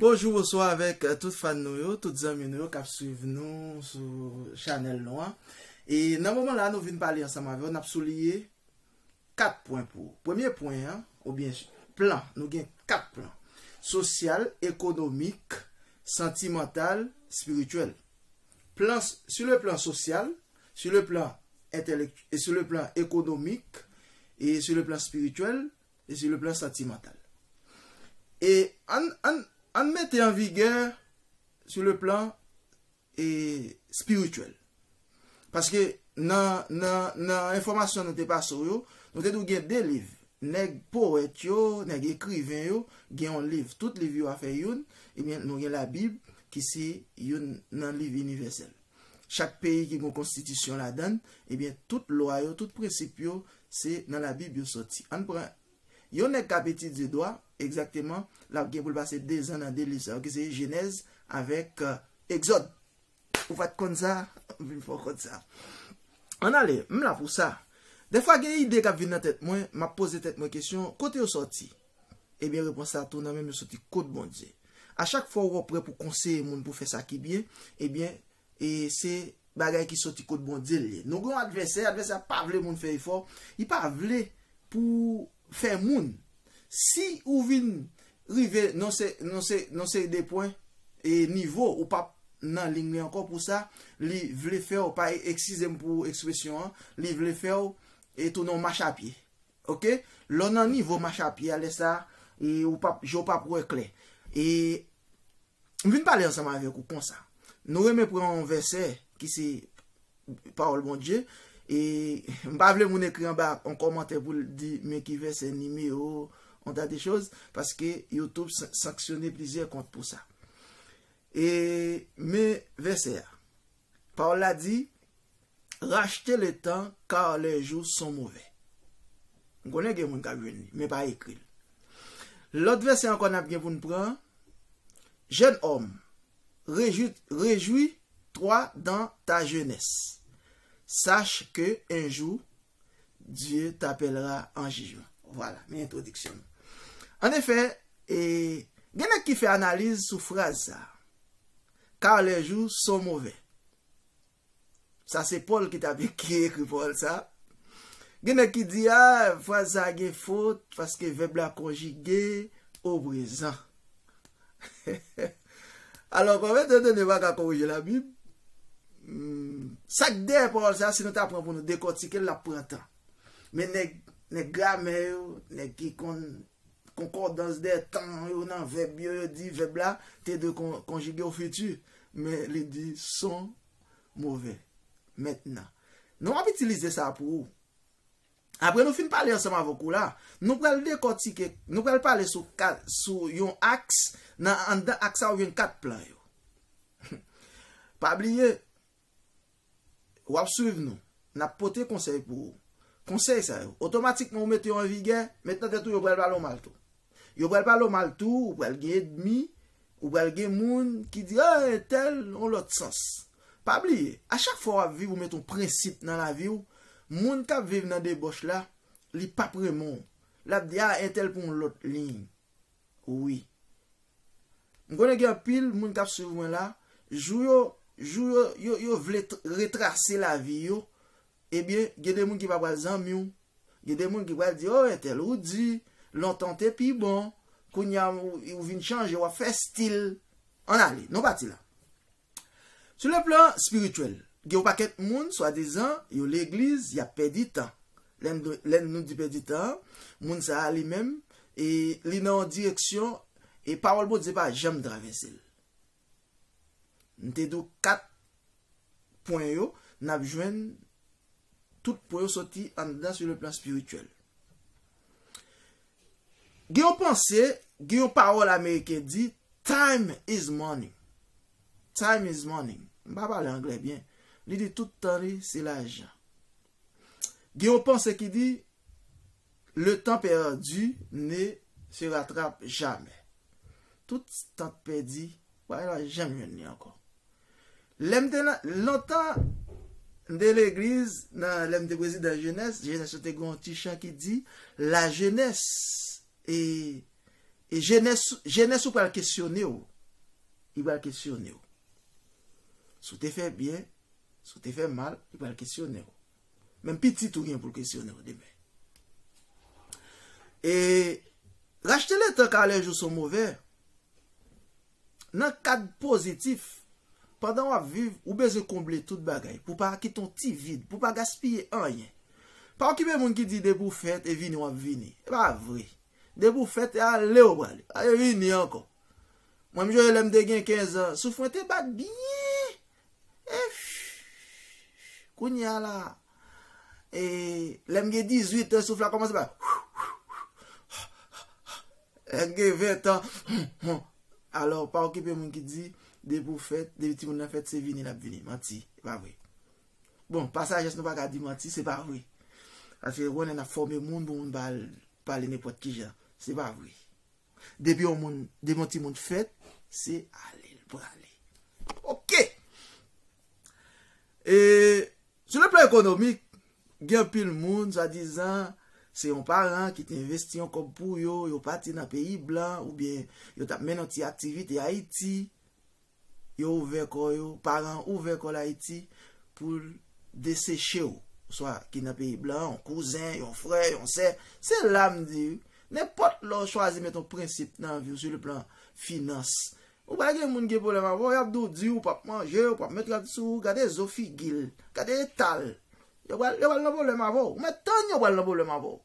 Bonjou bonswa avèk tout fan nou yo, tout zanmi nou yo kap swiv nou sou chanèl nou an e nan moman la nou vin pale ansanm avèw nap souliye 4 pwen pou ou premye pwen an oubyen plan nou gen 4 plan sosyal, ekonomik, santimantal, spirityèl plan su le plan sosyal su le plan entèlektyèl su le plan ekonomik e su le plan spirityèl e sur le plan sentimental. E ann ann ann mete an vigè sur le plan e spirituel. Paske nan nan nan enfòmasyon nou te pase w yo, nou te di w gen 2 liv. Nèg powèt yo, nèg ekriven yo gen yon liv, tout liv yo a fè youn, ebyen nou gen labib ki se youn nan liv inivèsèl. Chak peyi ki gon konstitisyon ladan l, ebyen tout lwa yo, tout prensip yo se nan labib yo sòti. Ann pran yon nèg k ap etidye dwa, egzakteman l ap gen pou l pase dezan nan 2 liv sa yo ki se jenèz avèk egzòd. Ou pa t konn sa? M vin fè w konn sa. Ann ale, m la pou sa. Dèfwa gen ide k ap vin nan tèt mwen, m ap poze tèt mwen kesyon, kote yo sòti? Ebyen repons la tou nan menm yo soti kot Bondye. A chak fwa ou wè w prè pou konseye moun pou fè sa ki byen, ebyen e se bagay ki soti kot Bondye l ye. Nou gen yon advèsè, advèsè a pa vle moun fè efò, li pa vle pou fè moun. Si ou vin rive nan se nan se nan seri de pwen e nivo ou pap nan lign li ankò pou sa, li vle fè w pa eksize m pou ekspresyon an, li vle fè w e tounen yon machapye. Ok lè w nan nivo machapye a lè sa e ou pap je w pap wè klè e m vin pale ansanm avèk ou konsa nou renmen pran yon vèsè ki se pawòl Bondye e m pa vle moun ekri anba yon kòmantè pou l di men ki vèsè nimewo yon tas de choz paske youtube sanksyone plizyè kont pou sa e men vèsè a pawòl la di. Rachte le tan car les jours sont mauvais. M konnen gen moun k ap jwenn li, men pa ekri l. Lòt vèsè ankò n ap gen pou n pran, Jeune homme, rejouis-toi dans ta jeunesse, sache que un jour Dieu t'appellera en jugement. Vwala, men entwodiksyon l. An efè, gen nèg ki fè analiz sou fraz sa a, Car les jours sont mauvais. Sa se Pòl ki ta pe ki ekri pawòl sa. Gen nèg ki di a, fraz sa gen fot, paske vèb la konjige o prezan. Alò, kòm etandone pa ka korije labib, sa k dèyè pawòl sa, si nou ta pran pou nou dekòtike l, l ap pran tan. Men nèg gramè yo, nèg ki konn Concordance des temps yo nan vèb yo, yo di vèb la te dwe konjige o fiti, men li di son move. Mentnan, nou wap itilize sa pou ou. Apre nou fin pale ansanm avèk ou la, nou pral dekòtike, nou pral pale sou kat, sou yon aks, nan anndan aks sa ou jwenn kat plan yo. Pa bliye, W ap swiv nou, n ap pote konsèy pou ou. Konsèy sa yo, otomatikman ou mete yo an vigè, met nan tèt ou yo pral pale w mal tou. Yo pral pale w mal tou, ou pral gen edmi, ou pral gen moun ki di, a, entèl, yon lòt sans. Pa bliye, a chak fwa w ap viv ou mete yon prensip nan lavi w, moun k ap viv nan debòch la, li p ap renmen w. L ap di, a, entèl pran yon lòt liy. Wi. M konnen gen anpil moun kap swiv mwen la, jou yo jou yo yo yo vle retrase lavi yo, ebyen gen de moun ki pa pral zanmi w, gen de moun ki pral di oh entèl ou di, lontan w te pi bon, kounya ou vin chanje wap fè stil, ann ale, nou pati la. Sou le plan spirituel, gen yon pakèt moun swadizan yo legliz yap pèdi tan. Lè nou di pèdi tan an, moun sa a li menm li nan yon direksyon e pawòl Bondye pa janm travèse l. M te di w 4 pwen yo, nap jwenn tout pwen yo soti anndan sou le plan spirituel. Gen yon panse, gen yon pawòl ameriken di, Time is money. Time is money. M pa pale anglè byen. Li di tout tan li se lajan. Gen yon panse ki di, Le tan perdu ne se rattrape jamais. Tout tan k pèdi, w pa janm jwenn li ankò. Lè m te nan, lontan, m te legliz, nan, lè m te prezidan jenès, jenès yo te gen yon ti chan ki di, la jenès, e, e jenès, jenès ou pral kesyone w, li pral kesyone w. Si w te fè byen, si w te fè mal, li pral kesyone w. Menm pitit ou gen pou l kesyone w demen. E, rachte letan kalè jou son move. Nan kad pozitif, pandan w ap viv, ou bezwen konble tout bagay, pou w pa kite yon ti vid, pou w pa gaspiye anyen. Pa okipe moun ki di depi w fèt e vini w ap vini. E pa vre. Depi w fèt e ale w prale. Pa vini ankò. Mwen m jwe lè m te gen 15 an, souf mwen te bat byen. Echhhhh kounye a la e lè m gen 18 an souf la kòmanse ba Houhouhou lè m gen 20 an Houhou alò pa okipe moun ki di depi ou fèt depi timoun nan fèt se vini l ap vini manti e pa vre bon pa sajès nou pa ka di manti se pa vre paske ou konnen n ap fòme moun pou moun pa al pale nenpòt kijan se pa vre. Depi yon moun, depi yon timoun fèt, se ale l prale. Ok! E, sou le plan ekonomik, gen anpil moun, swa dizan, se yon paran ki te envesti yon kòb pou yo, yo pati nan peyi blan, oubyen yo t ap mennen yon ti aktivite Ayiti, Yo ouvè kò yo, paran an ouvè kò l Ayiti pou l deseche w, oswa ki nan peyi blan, yon kouzen, yon frè, yon sè. Se la m di, nenpòt lè w chwazi met yon prensip nan vi w sou le plan finans, ou pral gen moun gen pwoblèm avè w, y ap di w di ou p ap manje, ou p ap met rad sou ou, gade zo figi l, gade eta l. Yo pral nan pwoblèm avè w. Ou mèt tann yo pral nan pwoblèm avè w.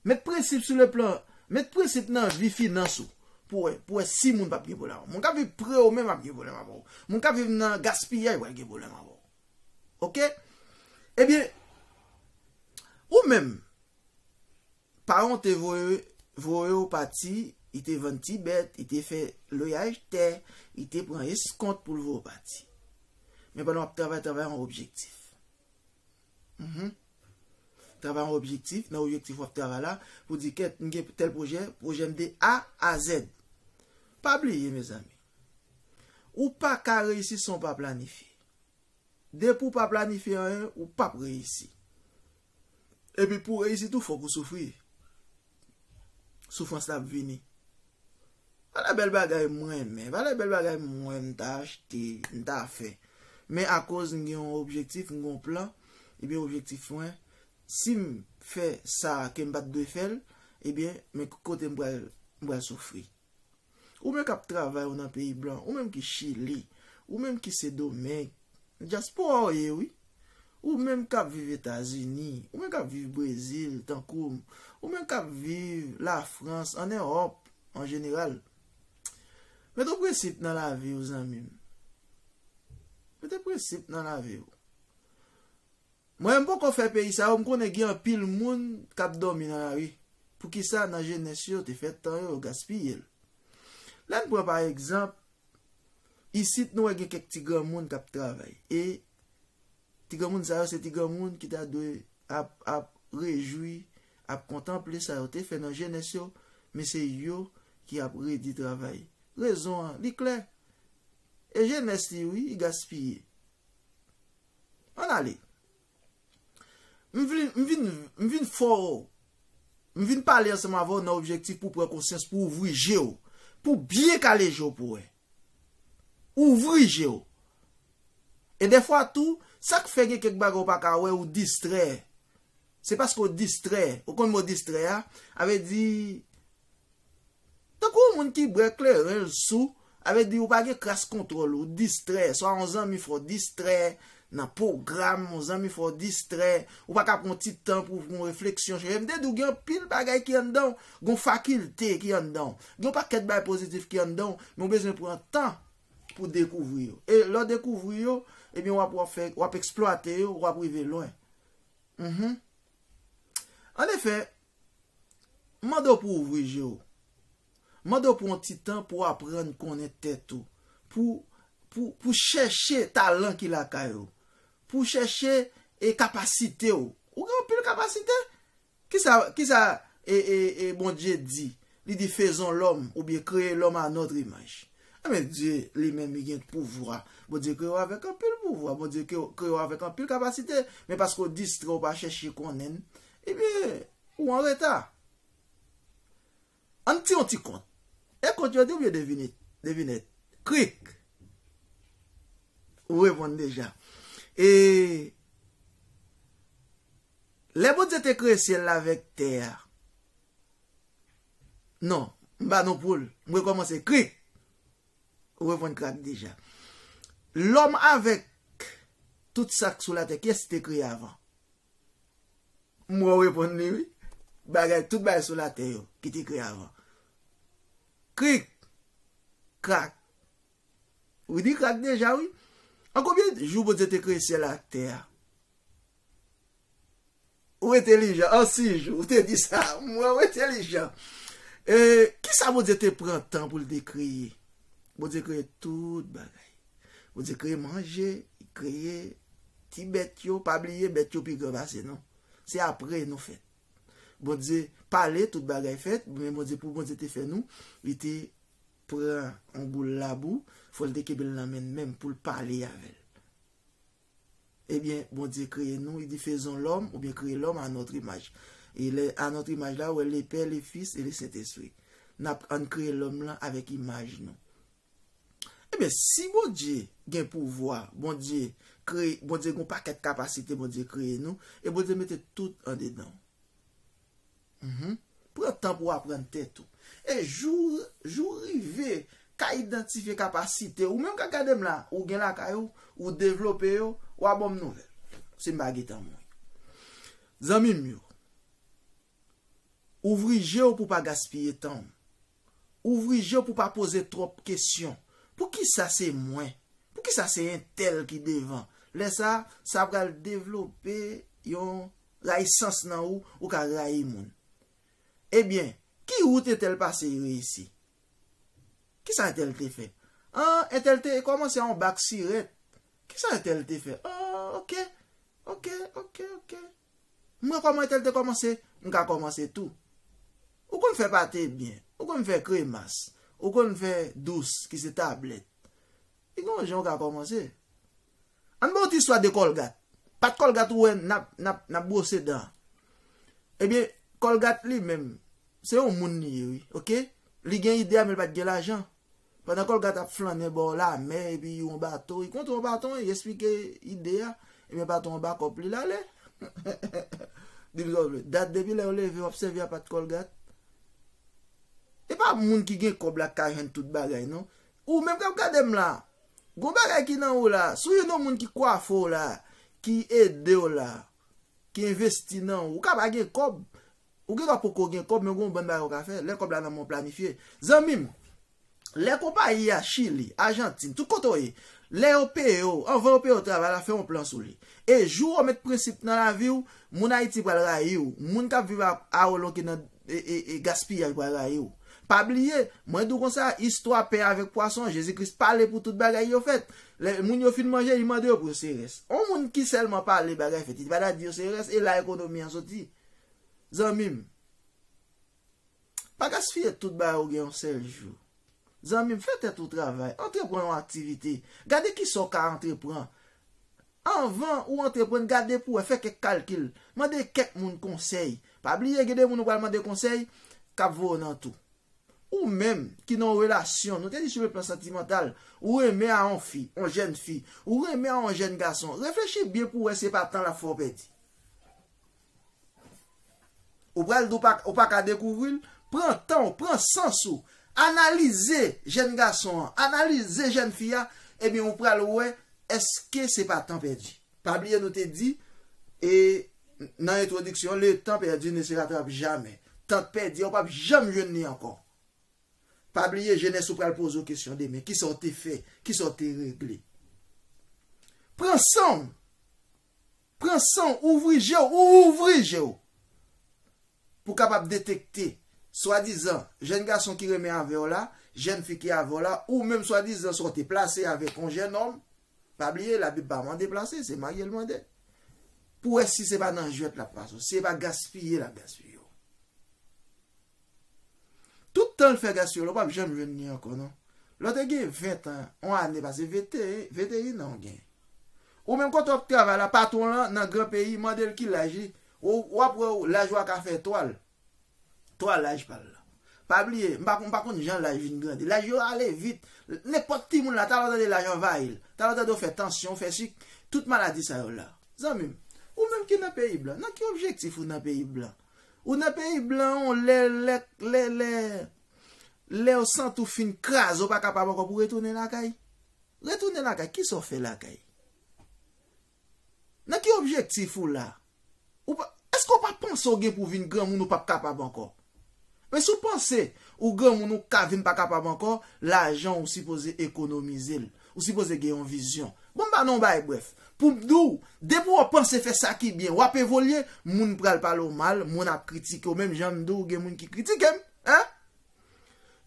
Met prensip sou le plan, met prensip nan vi finans ou pou wè, pou wè si moun pap gen pwoblèm avè w. Moun kap viv pre w menm ap gen pwoblèm avè w. Moun kap viv nan gaspiyay pral gen pwoblèm avè w. Ok? Ebyen, ou menm, paran w te voye, voye w pati, li te vann ti bèt, li te fè loyaj tè, li te pran eskont pou l voye w pati. Men pandan w ap travay, travay an objektif. Mh. Travay an objektif, nan objektif wap travay la, pou di kèt m gen tèl pwojè, pwojè m de A a Z. Pa bliye mezanmi, ou pa ka reyisi san w pa planifye. Depi w pa planifye anyen, ou pap reyisi. Epi pou w reyisi tou fòk ou soufri. Soufrans la ap vini. Valè bèl bagay m renmen. Valè bèl bagay m wè m ta achte, m ta fè. Men akoz m gen yon objektif, m gen yon plan, ebyen objektif mwen, si m fè sa ke m pa t dwe fè l, ebyen men ki kote m pral soufri. Ou menm kap travay ou nan peyi blan, ou menm ki chili, ou menm ki sedomeng, dyaspora ou ye wi, ou menm kap viv etazini, ou menm kap viv brezil tankoum, ou menm kap viv lafrans, an erop an jeneral, mete prensip nan lavi ou zanmim, mete prensip nan lavi ou, Mwen menm poko fè peyi sa yo m konnen gen anpil moun k ap dòmi nan lari. Poukisa nan jenès yo te fè tan yo yo gaspiye l? Lè n pran pa egzanp, isit nou wè gen kèk ti granmoun k ap travay e ti granmoun sa yo se ti granmoun ki ta dwe ap ap rejwi, ap kontanple sa yo te fè nan jenès yo men se yo ki ap redi travay. Rezon an li klè, e jenès li wi, li gaspiye. An ale. M vin, m vin, m vin fè w, m vin pale ansanm avè w nan objektif pou w pran konsyans, pou w ouvri je w, pou w byen kale je w pou w wè. Ouvri je w. E dèfwa tou, sa k fè gen kèk bagay ou pa ka wè, ou distrè. Se paske ou distrè. Ou konn mo distrè a? A vle di, Tankou yon moun ki bwè kleren l sou, sa vle di ou pa gen kras kontwòl, ou distrè, swa yon zanmi fè w distrè nan pwogram, yon zanmi fè w distrè, ou pa ka pran yon ti tan pou w fè yon refleksyon chèche. M te di w gen anpil bagay ki anndan w, gen yon fakilte ki anndan w, gen yon pakèt bagay pozitif ki anndan w, men w bezwen pran tan pou w dekouvri yo. E lè w dekouvri yo, ebyen w ap wap fè, w ap eksplwate yo, w ap rive lwen. Anefè, M mande w pou w ouvri je w. M mande w pran yon ti tan pou w aprann konnen tèt ou, pou w chèche talan ki lakay ou, pou w chèche kapasite w. Ou gen anpil kapasite. Kisa Bondye di? Li di, Faisons l'homme, oubyen Créer l'homme à notre image. Enben, Dye li menm li gen pouvwa. Bondye kreye w avèk anpil pouvwa. Bondye kreye w avèk anpil kapasite. Men paske w distrè, w pa chèche konnen, Ebyen, ou an reta. An n ti yon ti kont. E kont yo di oubyen devinit? Devinèt. Krik! Ou reponn deja. E, Lè Bondye te kreye syèl la avèk tè a. Non, m ba nou poul. M rekòmanse. Krik! Ou reponn krak deja. Lòm avèk tout sa k sou latè, kiyès ki te kreye avan? M wè w reponn li wi. Bagay tout bagay sou latè yo ki te kreye avan. Krik! Krak! Ou di krak deja wi. An konbyen jou Bondye te kreye syèl ak tè a? Ou entelijan. An sis jou. Ou te di sa. M wè w entelijan. Kisa Bondye te pran tan pou l te kreye? Bondye kreye tout bagay. Bondye kreye manje, li kreye ti bèt yo, pa bliye bèt yo pi gran pase nou. Se apre nou fèt. Bondye pale tout bagay fèt, men Bondye pou Bondye te fè nou, li te pran yon boul labou, fòl te kenbe l nan men l menm pou l pale avè l. Ebyen, Bondye kreye nou, li di fezon lòm, oubyen kreye lòm a notre imaj. E lè a notre imaj la, wè le pè, le fis e le sentespri. Nap ann kreye lòm lan avèk imaj nou. Ebyen si Bondye gen pouvwa, Bondye kreye, Bondye gon pakèt kapasite Bondye kreye nou, e Bondye mete tout andedan ou. Humm pran tan pou aprann tèt ou. E jou jou rive ka idantifye kapasite ou menm kap gadem la ou gen lakay ou, ou devlope yo, wa banm nouvèl. Sim pa getan mouri. Zanmim yo, ouvri jew pou pa gaspiye tanw. Ouvri je w pou w pa poze twòp kesyon. Poukisa se mwen? Poukisa se entèl ki devan? Lè sa a, sa pral devlope yon rayisans nan ou, ou ka rayi moun. Ebyen, ki wout entèl pase e reyisi? Kisa entèl te fè? An, entèl te kòmanse a yon bak sirèt. Kisa entèl te fè? O, oke, oke, oke, oke. M wè kòman etel te kòmanse m ka kòmanse tou Ou konn fè pate byen Ou konn fè kremas Ou konn fè dous ki se tablèt E gen yon jan ou ka kòmanse An n ba w ti istwa de kòlgat Pat kòlgat ou wè n ap bwose dan an Ebyen kòlgat li menm se yon moun li ye wi ok Li gen ide a men li pa t gen lajan Pandan Kolga t ap flannen bò lamè epi yon bato, i kontre yon baton e i esplike ide a, ebyen baton an bakòp li, l ale. Di m sa w vle. Dat depi lè w leve w ap sèvi a pat Kolgat? E pa moun ki gen kòb la k ka jwenn tout bagay non. Ou menm k ap gade m la, gon bagay ki nan ou la. Si w jwenn yon moun ki kwafe w la, ki ede w la, ki envesti nan ou, ou ka pa gen kòb, Ou gen dwa poko gen kòb men ou gen yon bann bagay ou ka fè lè kòb la nan men w planifye. Zanmi m, lè konpayi a, Chili, Ajantin, tout kote w ye, lè yo peye w, anvan yo peye w travay la, fè yon plan sou li. E jou ou met prensip nan lavi w, moun Ayiti pral rayi w, moun k ap viv a w lonke nan gaspiyaj pral rayi w. Pa bliye, mwen di w konsa, istwa pen avèk pwason, Jezi Kris pale pou tout bagay yo fèt. Lè moun yo fin manje, li mande yo pou yo se rès. Yon moun ki sèlman pale bagay fèt, li pa ta di yo se rès, e la ekonomi an soti. Zanmim Pa gaspiye tout bagay ou gen yon sèl jou Zanmim fè tèt ou travay Antrepran yon aktivite Gade kisa ou ka antrepran Anvan ou antreprann gade pou wè Fè kèk kalkil Mande kèk moun konsèy Pa bliye gen de moun ou pral mande konsèy K ap voye w nan tou Ou menm ki nan yon relasyon Nou te di sou le plan santimantal Ou renmen a yon fi Yon jèn fi Ou renmen a yon jèn gason Reflechi byen pou wè se pa tan l ap fè w pèdi Ou pral di ou pa ka dekouvri l? Pran tan w, pran sans ou, analize jèn gason an, analize jèn fi a, ebyen ou pral wè èske se pa tan pèdi. Pa bliye nou te di e nan entwodiksyon le tan pèdi ne se ratrape jamè. Tan pèdi a ou pap janm jwenn li ankò. Pa bliye jenès ou pral poze w kesyon demen, kisa w te fè, kisa w te regle. Pran san w! Pran san w, ouvri je w, ou ouvri je w! Pou kapab detekte swadizan jèn gason ki renmen avè w la, jèn fi ki avè w la, ou menm swadizan sa w te plase avèk yon jènòm, pa bliye labib pa mande plase, se marye l mande, pou wè si se pa nan jwèt l ap pase w, si se pa gaspiye l ap gaspiye w. Tout tan l fè gaspiye la ou pap janm jwenn li ankò non. Lè w te gen 20 tan, yon ane pase, vete, 21 an ou gen. Ou menm kote w ap travay la, patwon w lan nan gran peyi, mande l ki laj li, ou ap wè ou laj ou a ka fè 3 l, 3 laj pa l la. Pa bliye, m pa m pa konn jan laj vin grandi. Laj yo ale vit. Nenpòt timoun la, talè w tande laj anvayi l. Talè w tande ou fè tansyon, ou fè sik, tout maladi sa yo la. Zanmi m, ou menm ki nan peyi blan, nan ki objektif ou nan peyi blan? Ou nan peyi blan on lè lè lè lè lèw sant ou fin kraze ou pa kapab ankò pou retounen lakay? Retounen lakay kisa ou fè lakay? Nan ki objektif ou la? Ou pa eske ou pa panse ou gen pou vin granmoun ou pap kapab ankò? Men si ou panse ou granmoun ou ka vin pa kapab ankò lajan ou sipoze ekonomizel Ou sipoze gen yon vizyon. Bon m pa nan yon bagay brèf. Pou m di w, depi w panse fè sa ki byen, w ap evolye, moun pral pale w mal, moun ap kritike w menm jan m di w gen moun ki kritike m. Hein?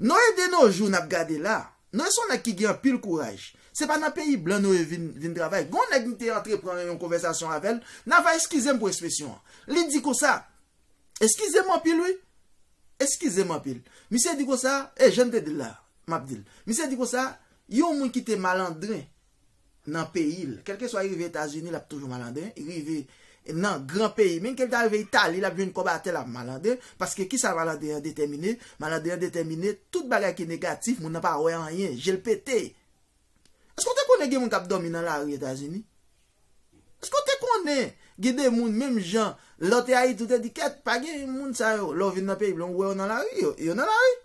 Noé de nos jours n ap gade la, Noé se yon nèg ki gen anpil kouraj. Se pa nan peyi blan Noé vin vin travay. Gen yon nèg m te antre pran yon konvèsasyon avè l, Nava eskize m pou espresyon an. Li di konsa, Eskize m anpil wi. Eskize m anpil. Misye di konsa, e jan m te di l la, m ap di l. Misye di konsa, yon moun ki te malandren nan peyi l, kèlkeswa li rive Etazini, l ap toujou malandren, li rive nan gran peyi, menm ke li ta rive Itali, l ap jwenn kòb atè, l ap malandren, paske kisa malandren an detèmine? Malandren an detèmine tout bagay ki negatif, moun nan pa wè anyen, je l pete. Eske ou te konnen gen moun k ap dòmi nan lari Etazini? Eske ou te konnen gen de moun menm jan lè w te Ayiti ou te di kèt pa gen moun sa yo lè w vin nan peyi blan ou wè yo nan lari yo nan lari.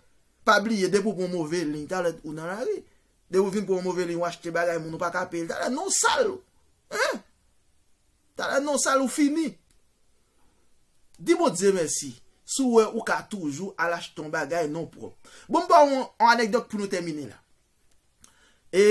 Pa bliye depi ou pran yon move liy talè ou nan lari. Depi ou fin pran yon move liy ou achte bagay moun ou pa ka peye l talè non w sal hein talè non w sal ou fini. Di Bondye mèsi si w wè ou ka toujou al achte yon bagay non w pwòp. Bon m ba w yon anekdòt pou nou tèmine la. E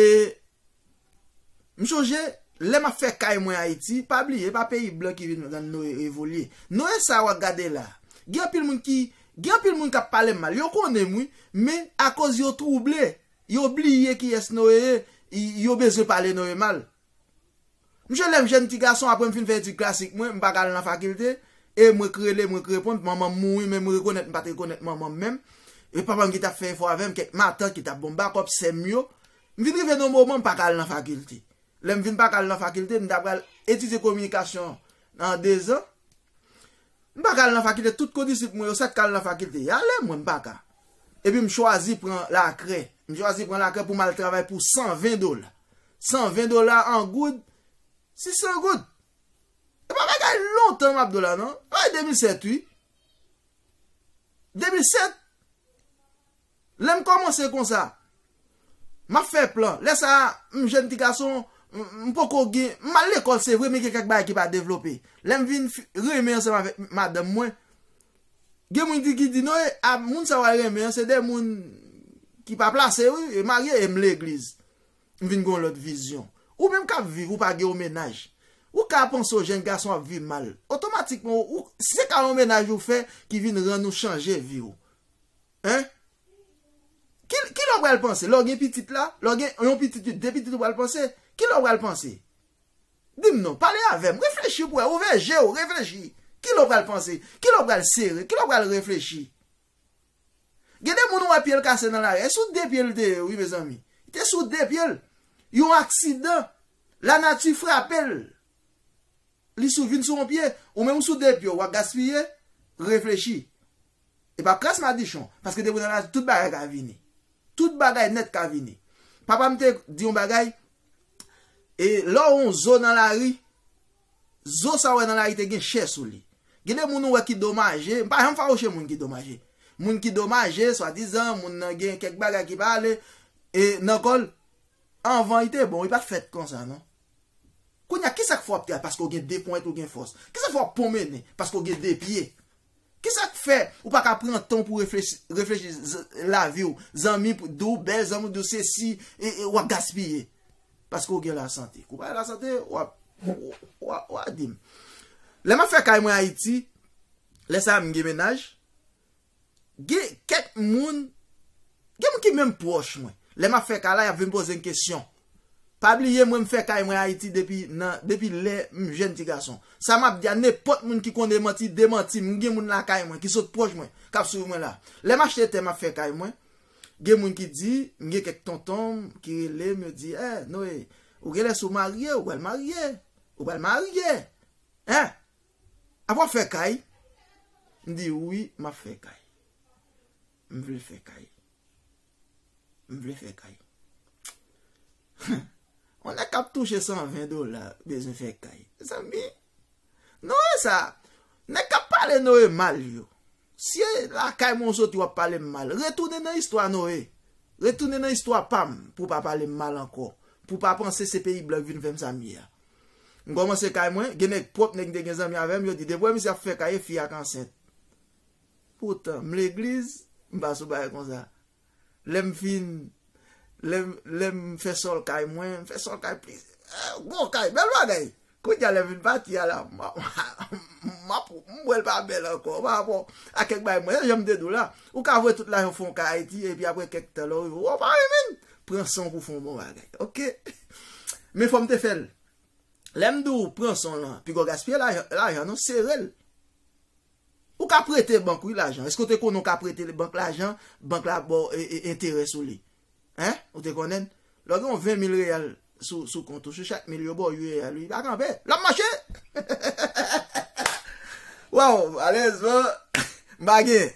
m sonje lè m ap fè kay mwen Ayiti, pa bliye e pa peyi blan ki vin rann Noe evolye. Noe sa a w ap gade la a, gen anpil moun ki, gen anpil moun k ap pale m mal, yo konnen m wi, men akoz yo twouble, yo bliye kiyès Noe ye, yo bezwen pale Noe mal. Msye lèm jèn ti gason apre mfin fè etid klasik mwen mpa ka al nan fakilte e mwen k rele mwen k reponn manmanm mouri men mwen rekonèt mpat rekonèt manmanm menm e papam ki tap fè efò avèm kèk matant ki tap bonm bakòp sèm yo mfin rive nan moman mpa ka al nan fakilte lèm vin pa ka al nan fakilte mta pral etidye kominikasyon nan 2 zan M pa ka al nan fakilte tout kondisip mwen yo sat ka al nan fakilte ya lè mwen m pa ka epi m chwazi pran lakrè m chwazi pran lakrè pou m al travay pou 120 dola 120 dola an goud si 100 goud e pa bagay lontan map do la nan se bagay 2007 wi 2007 Lè m kòmanse konsa. M ap fè plan. Lè sa a, m jèn ti gason, m poko gen, m al lekòl se vre men gen kèk bagay ki pa devlope. Lè m vin renmen ansanm avèk madanm mwen, gen moun ki di non e, a moun sa w al renmen an se de moun ki pa plase wi, yo marye e m legliz. M vin gen yon lòt vizyon. Ou menm k ap viv, ou pa gen yon mennaj, ou ka panse yon jèn gason ap viv mal. Otomatikman, si se ka yon mennaj ou fè ki vin rann ou chanje vi w. Hein? Ki, kilè w pral panse? Lè w gen pitit la? Lè w gen yon pitit pi, de pitit ou pral panse? Kilè w pral panse? Di m non, pale avè m, reflechi pou wè, ouvè je w, reflechi. Kilè w pral panse? Kilè w pral sere? Kilè w pral reflechi? Gen de moun ou wè pye l kase nan lari a, e sou de pye l te ye wi mezanmi. Li te sou de pye l. Yon aksidan, lanati frape l. Li sou, vin sou yon pye. Ou menm ou sou de pye w, w ap gaspiye? Reflechi. E pa kras madichon, paske depi w nan lavi tout bagay ka vini. Tout bagay nèt ka vini. Papa m te di yon bagay, e lè w wè yon zo nan lari, zo sa w wè nan lari te gen chè sou li. Gen de moun ou wè ki domaje, m pa janm fawouche moun ki domaje. Moun ki domaje, swadizan, moun nan gen kèk bagay ki pa ale e nan kò l, anvan li te bon, li pa t fèt konsa non. Kounye a, ki sa k fè w ap travay? Paske w gen de ponyèt ou gen fòs. Ki sa k fè w ap pwonmennen? Paske w gen de pye. Kisak fè ou pa ka pran tan w pou reflechi reflechi lavi w zanmi p di w bèl zanmi w di w sesi wap gaspiye paske w gen lasante kou pa gen lasante wap wa di m lè map fè kay mwen ayiti lè sa m gen mennaj gen kèk moun gen moun ki menm pwòch mwen lè map fè kay la yap vin poze m kesyon Pa bliye mwen m fè kay mwen Ayiti depi nan depi lè m jèn ti gason. Sa m ap di a nenpòt moun ki konn demanti demanti m. M gen moun lakay mwen ki sot pwòch mwen k ap swiv mwen la. Lè m achte tè m ap fè kay mwen, gen moun ki di, m gen kèk tonton m ki rele m yo di, eh Noé, ou genlè si w marye ou pral marye, ou pral marye eh! Apa w ap fè kay? M di wi m ap fè kay. M vle fè kay. M vle fè kay. On nèg kap touche 120 dola bezwen fè kay. Mezanmi. Non e sa. Nèg kap pale Noe mal yo. Si e la kay mwen ou soti wap pale m mal. Retounen nan istwa Noe. Retounen nan istwa pa m pou pa pale m mal ankò. Pou pa panse se peyi blan ki vin fè m sa m ye a. M kòmanse kay mwen. Gen nèg pwòp nèg m te gen zanmi avè m yo di depi w wè misye ap fè kay e fi a k ansent. Poutan, m legliz, m pa sou bagay konsa. Lè m fin, lè m fè sòl kay mwen, m fè sòl kay plizyè. Gwo kay, bèl bagay. Kounye a lè m fin pati a la, m ap wè l pa bèl ankò. Pa rapò a kèk bagay mwen, se jan m te di w la, ou ka vwe tout lajan w fon kay Ayiti epi aprè kèk tan lè w rive wè w pa renmen l, pran san w pou w fon bon bagay. Ok. Men fò m te fè l. Lè m di w pran san w lan, pi gwo gaspiye lajan non, sere l. Ou ka prete bank wi lajan. Eske w te konnen w ka prete bank lajan, bank la ap ba w enterè sou li? Hein? Ou te konnen l? Lè w gen yon 20 mil reyal sou kont ou, sou chak mil yo ba w 8 reyal wi. Pa kanpe! L ap mache! Waw! Malerezman, m pa gen.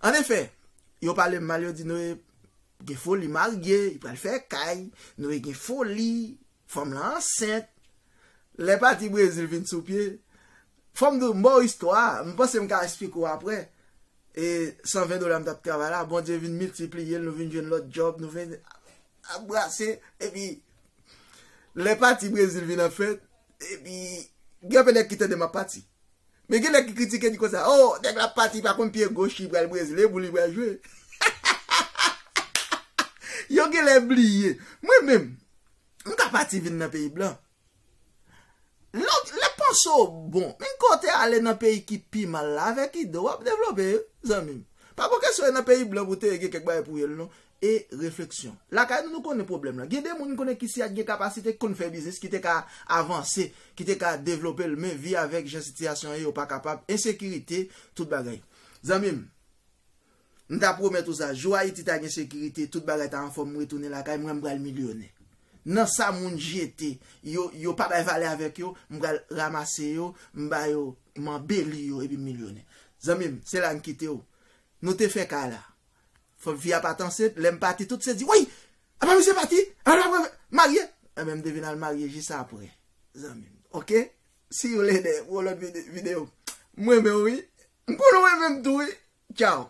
An efè, yo pale m mal, yo di nou e. Gen fo li marye, li pral fè kay, nou e gen fo li, fanm lan ansent. Lè pati Brezil vin sou pye, fò m di w m ba w istwa a, m panse m ka esplike w aprè, e 120 dola m t ap travay la, Bondye vin miltipliye l, nou vin jwenn lòt djòb, nou vin ap brase, epi lè pati Brezil vin an fèt, epi gen anpe nèg ki tande m ap pati. Men gen nèg ki kritike di konsa oh nèg la pati pa konn pye goch li pral brezle pou li pral jwe Yo gen lè bliye Mwen menm m ka pati vin nan peyi blan Lè lè panse w bon Men kò w te ale nan peyi ki pi mal la avèk ide w wap devlope zanmi m Pa pou kesyon e nan peyi blan pou te ye gen kèk bagay pou ye l non e refleksyon. Lakay nou nou konnen pwoblèm lan. Gen de moun m konnen ki si a t gen kapasite ki konn fè biznis ki te ka avanse, ki te ka devlope l men vi avèk jan sitiyasyon ye yo pa kapab, ensekirite, tout bagay. Zanmi m, m ta pwomèt ou sa, jou Ayiti ta gen sekirite, tout bagay ta anfòm m retounen lakay mwen m pral milyonè. Nan sa moun jete, yo yo pa bay valè avèk yo, m pral ramase yo, m ba yo, m anbeli yo epi m milyonè. Zanmi m, se la m kite w. Nou te fè kay la. Fòk fi a pat ansent, lèm pati tout se di woy! Apa misye pati? Apa lap re marye? Enben m te vin al marye jis apre zanmi m ok see you later pou yon lòt video. M renmen w wi. M konnen w renmen m tou wi. Tchao.